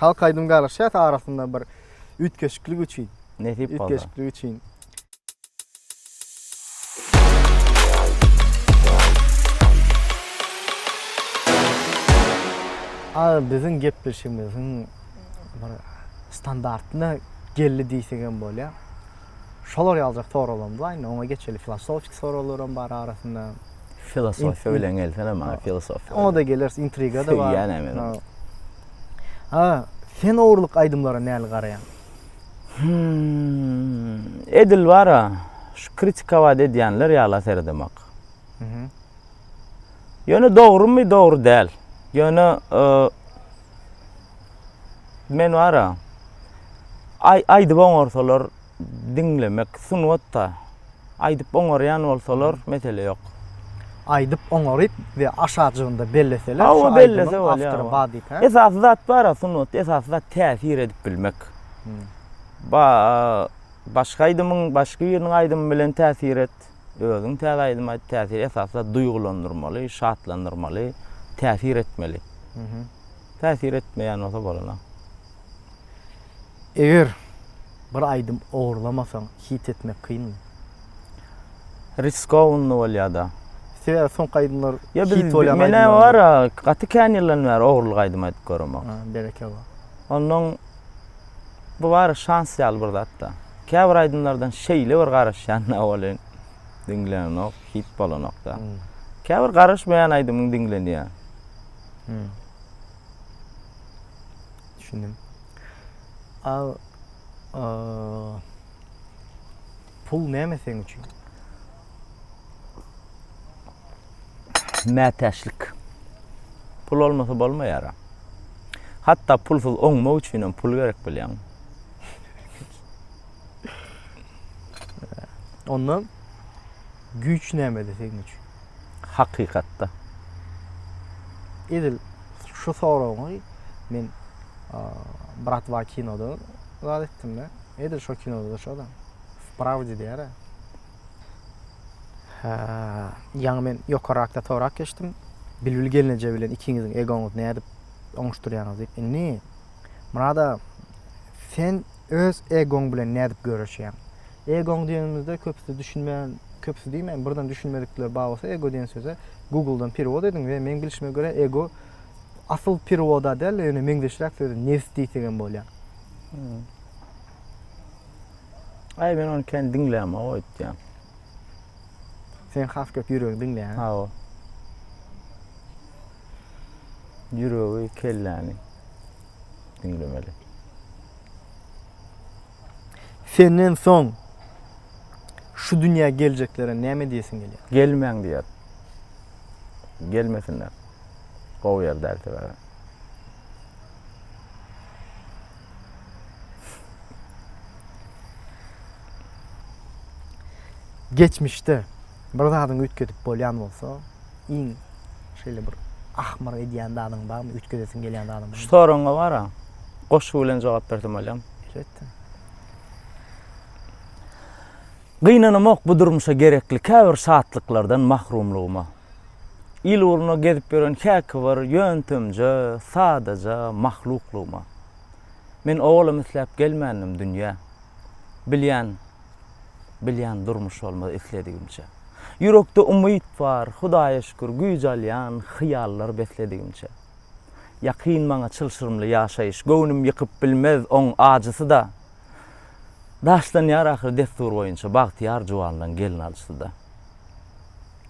C: Halk
B: aýdym galyşýas arasynda bir üýtgeşiklik üçin. Nesip bolsa. Üýtgeşiklik
C: üçin.
B: Aýy biziň gepleşigimiziň bir standartyna geldi diýsegem bolýar. Şolar ýaljak soraglarymyz bar. Indi oňa geçeli. Filosofiki soraglaram bar arasynda. Filosofiýa
C: bilen gelsene maňa filosofiýa. Oňa da geleris, intriga-da
B: bar. Söýýänä men
C: ony. A,
B: sen ogurlyk aýdymlara näli garaýaň? Hüm,
C: edil bar-a, şu kritikować edýänler ýala seredemak. Ýöne dogrumy, dogry däl. Ýöne men bara ay aýdyp oňarsalar diňlemek sungatda. Aýdyp oňarýan bolsalar mesele ýok. Aýdyp
B: oňaryp we aşajygynda belleseler. Hawa bellese
C: bolýar. Esasy zat bara sungat, esasy zat täsir edip bilmek. Ba başga aýdymyň, başga biriniň aýdymy bilen täsir et. Özüň täze aýdym aýt täsir esasda duýgulandyrmaly, şatlandyrmaly, täsir etmeli. Täsir etmeýän bolsa bolana.
B: Eger bir aýdym ogurlamasaň hit etmek kynmy? Riskowny
C: bolýada. Sebäbi soňky
B: aýdymlar hit bolýan
C: aýdymlar.
B: Mena
C: bar gaty
B: kän
C: ýyldan bäri ogurlyk aýdym aýdyp göremok. Berekella.
B: Ondan
C: Bu bary şans ýaly bir zatda. Käbir aýdymlardan şeýle bir garaşýan-da welin, diňlenenok, hit bolanok-da. Käbir garaşmaýan aýdymyň diňlenýär.
B: Düşündim. A Pul näme seň üçin?
C: Mätäçlik. Pul bolmasa bolmaýar-a. Hatda pulsuz oňmak üçinem pul gerek bilýäňmi?
B: Onda güýç nämede seň üçin? Hakykatda. Edil şu soragyňy men bratwa kinoda zat etdim-de. Edil şo kinoda-da şo-da. W prawde diýer-ä. Hä, ýaňy men ýokarrakda sorap geçdim. Bilbil gelneje bilen ikiňiziň egoňyzy nädip oňuşdyrýaňyz diýip. Indi, Myrat aga, sen öz egoň bilen nädip göreşýäň? Egoň diýenimizde köpüsi düşünmän, köpüsi diýmäýin, birden düşünmedikler bar bolsa, ego diýen söze Google-dan perewod ediň we meň bilşime görä, ego asyl perewoda däl-de, ýöne meňzeşräk sözi nebs diýsegem bolýar.
C: Aý men ony kän diňlämok aýtýan.
B: Sen has köp ýüregi diňleýän. Hawa.
C: Ýüregi, kelläni diňlemeli.
B: Senden soň şu dünýä geljeklere näme diýesiň gelýär? Gelmäň diýer.
C: Gelmesinler. Gowy ýer däl sebäbi.
B: Geçmişde bir zadyň üýtgedip bolýan bolsa, iň şeýle bir ahmyr edýän zadyň barmy, üýtgedesiň gelýän zadyň barmy? Şu soragyňa bara
C: goşgy bilen jogap bersem bolýam. Ýetdi. Gynanamok bu durmuşa gerekli käbir şatlyklardan mahrumlygyma. Il ugruna gezip ýören häki bir ýöntemje, sadaja mahluklygyma. Men owalam isläp gelmändim dünýä. Bilýän, bilýän durmuş bolmaz isledigimçe. Ýürekde umyt bar, Hudaýa şükür, güýç alýan hyýallar besledigimçe. Ýakyn maňa çylşyrymly ýaşaýyş, göwnüm ýykyp bilmez oň ajysy-da. Daşlanýar ahyry destur boýunça, bagtyýar juwanlaň gelin alşysy-da.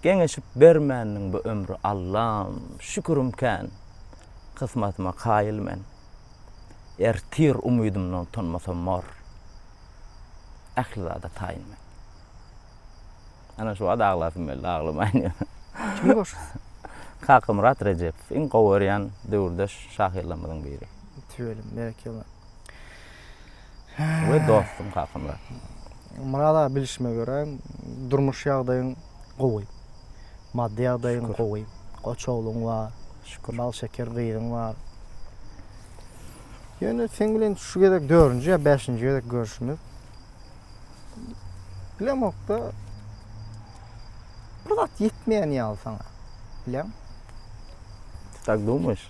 C: Geňeşip bermändiň bu ömri Allam şükürim kän kysmatyma kaýyl men Ertir umydymdan utanmasam bor Ähli zada taýyn men Ana şu wagt aglasym geldi aglamaýyn ýöne. Kim
B: goşgy? Kakamyrat
C: Rejepow iň gowy görýän döwürdeş şahyrlarymyzyň biri. Tüweleme, berekella. we dostuň hakynda. Myrat aga
B: bilişime görä durmuş ýagdaýyň gowy. Maddy ýagdaýyň gowy. Goç ogluň bar. Şükür. Bal şeker
C: gyzyň
B: bar. Ýöne seň bilen şu gezek dördünji ýa bäşinji gezek görüşimiz. Bilemokda bir zat ýetmeýän ýaly saňa. Bileň?
C: Ty tak dumyş?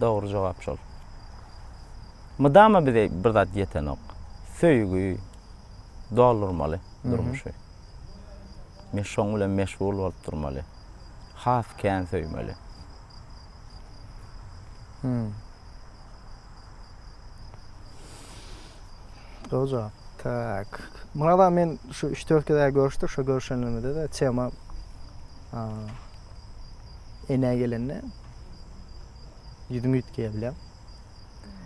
C: Dogry jogap şol. Mydama bize bir zat ýetenok. Söýgi doldurmaly durmuşy. Men şoň bilen meşgul bolup durmaly. Has kän söýmeli. Hmm. Dogry
B: jogap. Tak. Murada men şu 3-4 gezä görüşdik, şu görüşenimizde de tema Enä gelende ýüzüm üýtgeýär bilýäň.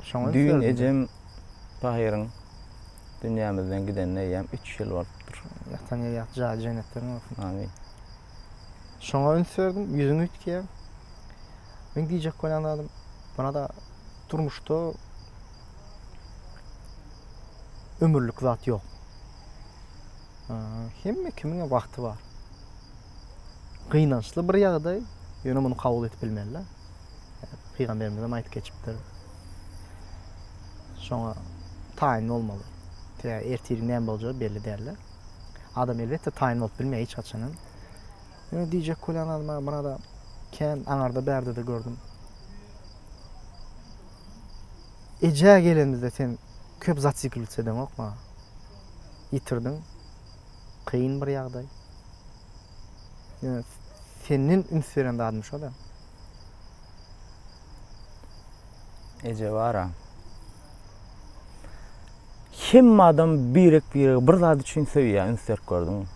B: Şoňa
C: Düýn ejem Tahyryň dünýämizden gidenine eýýäm üç ýyl bolupdyr. Ýatan ýeri ýagty jaýy
B: jennetleriň bolsun. Amin. Şoňa üns berdim, ýüzüm üýtgeýär. Men diýjek bolýan zadym, bana-da durmuşda ömürlik zat ýok. Hemme kimiň wagty bar. gynançly bir ýagdaý, ýöne muny kabul edip bilmeli. Pygamberimiz hem aýdyp geçipdir. Şoňa taýyn bolmaly. Tä ertir näme boljagy belli däl. Adam elbetde taýyn bolup bilmeýär hiç haçan hem. Ýöne diýjek bolýan adama murada kän aňarda bärde de gördüm. Eje gelenimizde sen köp zatsiklitsedäňokma. Ýitirdiň. Kyn bir ýagdaý. Ýöne senden üns beren zadym şo-da.
C: Eje bar-a. Hemme adam birek-biregi bir zat üçin söýýär, üns berip gördüňmi?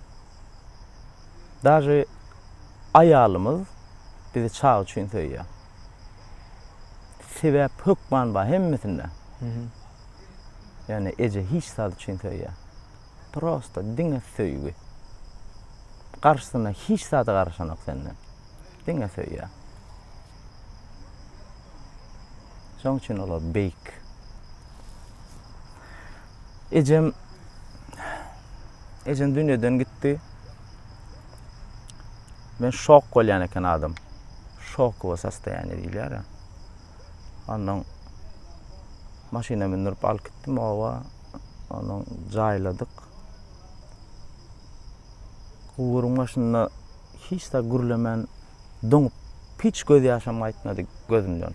C: Daže aýalymyz bizi çaga üçin söýýär. Sebäp hökman bar hemmesinde. Ýöne eje hiç zat üçin söýýär. prosta diňe söýgi. Garşysyna hiç zady garaşanok senden. Diňe söýýär. Şoň üçin olar beýik. Ejem Ejem dünýeden gitdi. Men şok bolýan eken adam. Şokowe sostoýaniýe diýilýär. Ondan maşyna mündirip alyp gitdim oba. Onuň jaýladyk. Guburyň başynda hiç zat gürlemän doňup, hiç gözýaşam gaýtmady gözümden.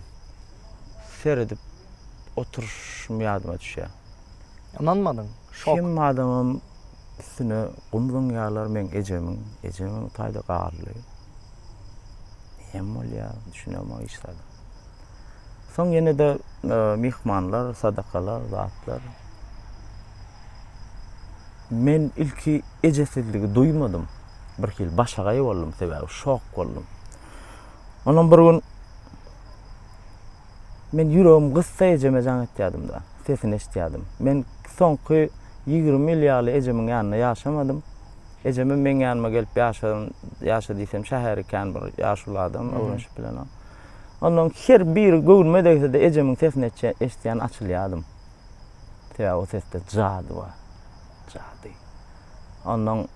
C: Seredip oturyşym ýadyma düşýär. Ynanmadyň,
B: şok. Kim adamam
C: üstüne gum zyňýarlar meň ejemiň. Ejem oňtaýda galdy. Näme bolýar, düşünemok hiç zada. Soň ýene-de e, myhmanlar, sadakalar, zatlar. Men ilki ejesizligi duýmadym. Bir hil başagaý boldum, sebäbi şok boldum. Ondan bir gün men ýüregim gyssa ejeme jaň etýärdim-de, sesini eşitýärdim. Men soňky 20 ýyl ýaly ejemiň ýanynda ýaşamadym. Ejeme meň ýanyma gelip ýaşan, ýaşa diýsem şäheri kän bir ýaşuly adam, öwrenşip bilen o. Ondan her bir göwnüme degse-de ejemiň sesini eşitýän açylýardym. Sebäbi o sesde jady bar. Jady. Ondan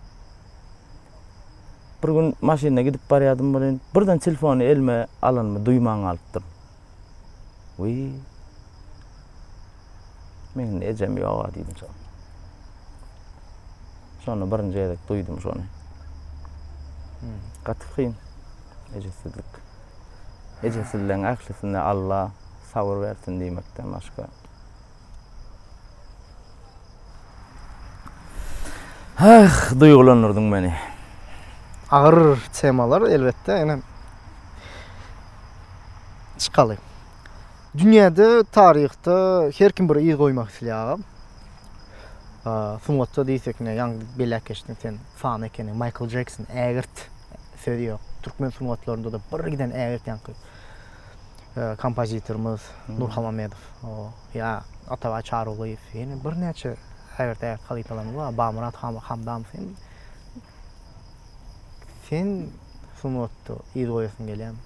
C: bir gün maşynda gidip barýardym welin, birden telefony elime alanymy duýman galypdyryn. Wiý! Meniň-de ejem ýog-a diýdim soň. Şonda birinji gezek duýdum şony. Gaty kyn ejesizlik. Ejesizligiň ählisine Alla sabyr bersin diýmekden başga. Ah, duýgulandyrdyň meni.
B: Agyr temalar elbetde, ine. Çykaly. Dünýäde taryhda her kim bir yz goýmak isleýär agam. Sungatda diýsek ne ýaňy belläp geçdiň sen fan ekeniň Michael Jackson ägirt söz ýok. Türkmen sungatlarynda da bir giden ägirt ýaňky kompozitorymyz hmm. Nur Hamamedow. O ýa Atabaý Çarygulyýew ýene birnäçe ägirt ägirt halypalarymyz bar. Bamyrat Hamdamow Sen sungatda yz goýasyň gelýärmi?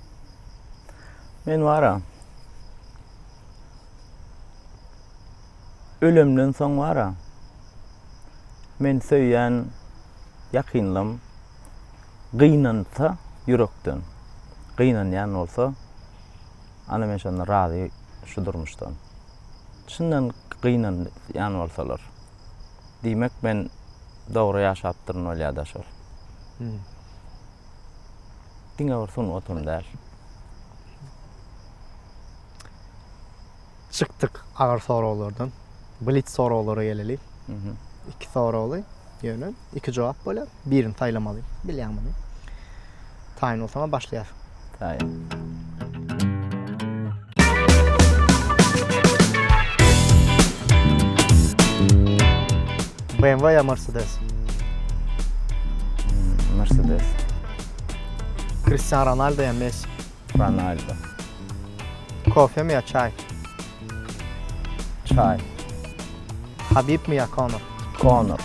C: Men bara ölemden soň bara men söýýän ýakynlym gynansa ýürekden gynanýan bolsa ana men şonda razy şu durmuşdan. Çyndan gynanýan bolsalar. Diýmek men dogry ýaşapdyryn bolýada şol. Diňe bir sungatam däl.
B: Çykdyk agyr soraglardan. Blitz soraglara geleli. Iki soragly ýöne iki jogap bolýar. Birini saýlamaly. Bilýäň muny. Taýyn bolsaňa başlaýar. Taýyn. BMW ya Mercedes? Hmm,
C: Mercedes.
B: Cristiano Ronaldo ya Messi? Ronaldo. Kofe mi ya çay?
C: Çaý.
B: Habibmi ýa Konor? Konor.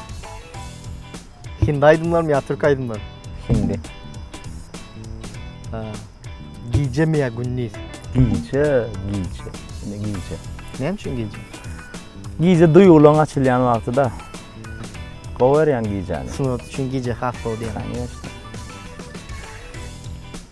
B: Hindi aýdymlarmy ýa türk aýdymlary? Hindi. Gijemi ýa gündiz? Gije,
C: gije.
B: Ine gije.
C: Näme
B: üçin gije?
C: Gije duýgularyň açylýan wagty-da. Gowy görýän gijäni. Sungat üçin gije has
B: gowy diýýän. Kanyýeşde.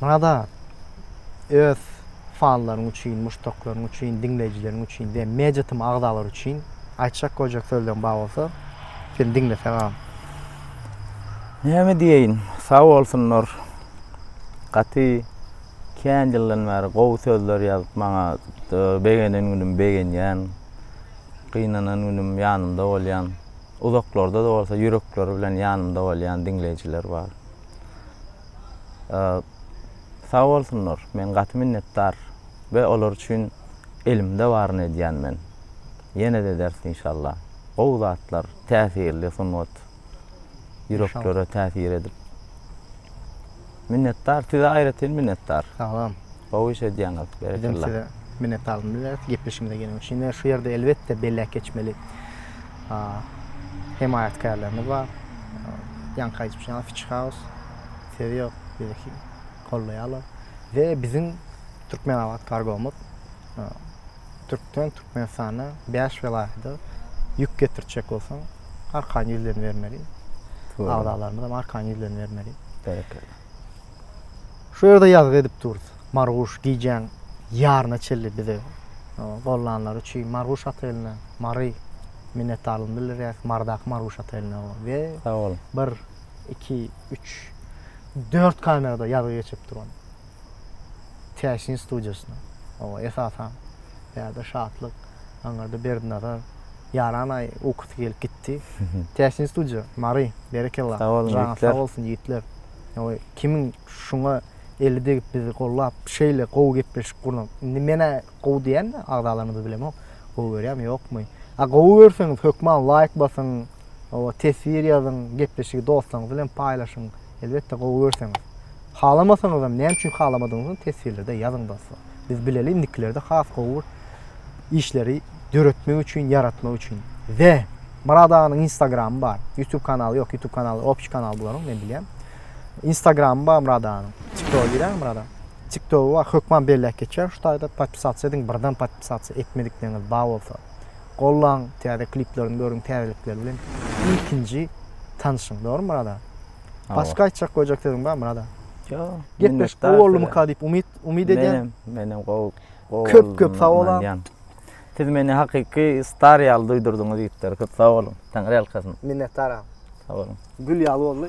B: Munada öz fanlaryň üçin, muşdaklaryň üçin, diňleýjileriň üçin we Media Tym agzalary üçin aýtjak goýjak sözleň bar bolsa, seni diňlesek agam.
C: Näme diýeýin, sag bolsunlar. Gaty Kän ýyldan bäri gowy sözler ýazyp maňa begenen günüm begenýän, gynanan günüm ýanymda bolýan, uzaklarda-da bolsa ýürekleri bilen ýanymda bolýan diňleýjiler bar. Sag bolsunlar, men gaty minnetdar we olar üçin elimde baryny edýän men. Ýene-de ederis inşallah. Gowy zatlar, täsirli sungat. ýüreklere täsir edip. Minnetdar, size aýratyn minnetdar. Sag boluň. Gowy
B: iş edýäňiz.
C: Berekella. Biz size minnetdarlyk
B: bildireris gepleşigimize geleniňiz üçin. Ýöne şu ýerde elbetde belläp geçmeli. Hemaýatkärlerimiz bar. Ýaňky aýdyşym ýaly Fiçi Haus söz ýok, bizi gollaýarlar. We biziň Türkmenabat kargomyz Türkden Türkmenistana bäş welaýada ýük getirjek bolsaň, arkan ýüzlerini bermeli. Agzalarymyzam arkan ýüzlerini bermeli.
C: Berekella.
B: Şu ýerde ýazgy edip durus. Marguş gijäň ýaryna çenli bize gollananlary üçin Marguş Oteline, Mary minnetdarlygymy bildirýäs. Marydaky Marguş Oteline we Sag boluň. Bir,
C: iki,
B: üç, dört kamerada ýazgy geçip duran. Täsin studiýasyna, oňa esasan Bärde Şatlyk, aňyrda Berdinazar, Ýaran aýy ukusy gelip gitdi. Täsin studiýa, Mary, berekella. Sag boluň, Janyňyz sag bolsun,
C: ýigitler.
B: Oý, kimiň şuňa eli degip bizi gollap, şeýle gowy gepleşik gurnap, indi men-ä gowy diýän-de agzalarymyzy bilemok, gowy görýärmi, ýokmy. A gowy görseňiz, hökman laýk basyň, oba, teswir ýazyň, gepleşigi dostlaryňyz bilen paýlaşyň. Elbetde gowy görseňiz. Halamasaňyzam näme üçin halamadygyňyzy teswirlerde ýazyň dostlar. Biz bileli indikilerde has gowy bir işleri döretmek üçin, ýaratmak üçin. Ze Murad aganyň Instagramy bar. YouTube kanaly ýok, YouTube kanaly opçy kanal bularyň men bilýän. Instagramy bar Murad aganyň. TikTok girýän Murad aga. TikTok bar, hökman belläp geçýär şu taýda. Podpisasiýa ediň, birden podpisasiýa etmedikleriňiz bar bolsa. Gollaň täze kliplerini görüň täzelikler bilen ilkinji tanşyň dogrymy Myrat aga? Başga aýtjak goýjak sözüň bar Myrat aga? Ýok.
C: Gepleşik gowy
B: boldumyka diýip umyt umyt edýän. Menem menem gowy
C: gowy Köp köp
B: sag bolaň. Siz meni
C: hakyky star ýaly duýdurdyňyz ýigitler
B: köp
C: sag boluň. Taňyrýalkasyn. Minnetdar aga. Sag boluň. Gül ýaly boldy.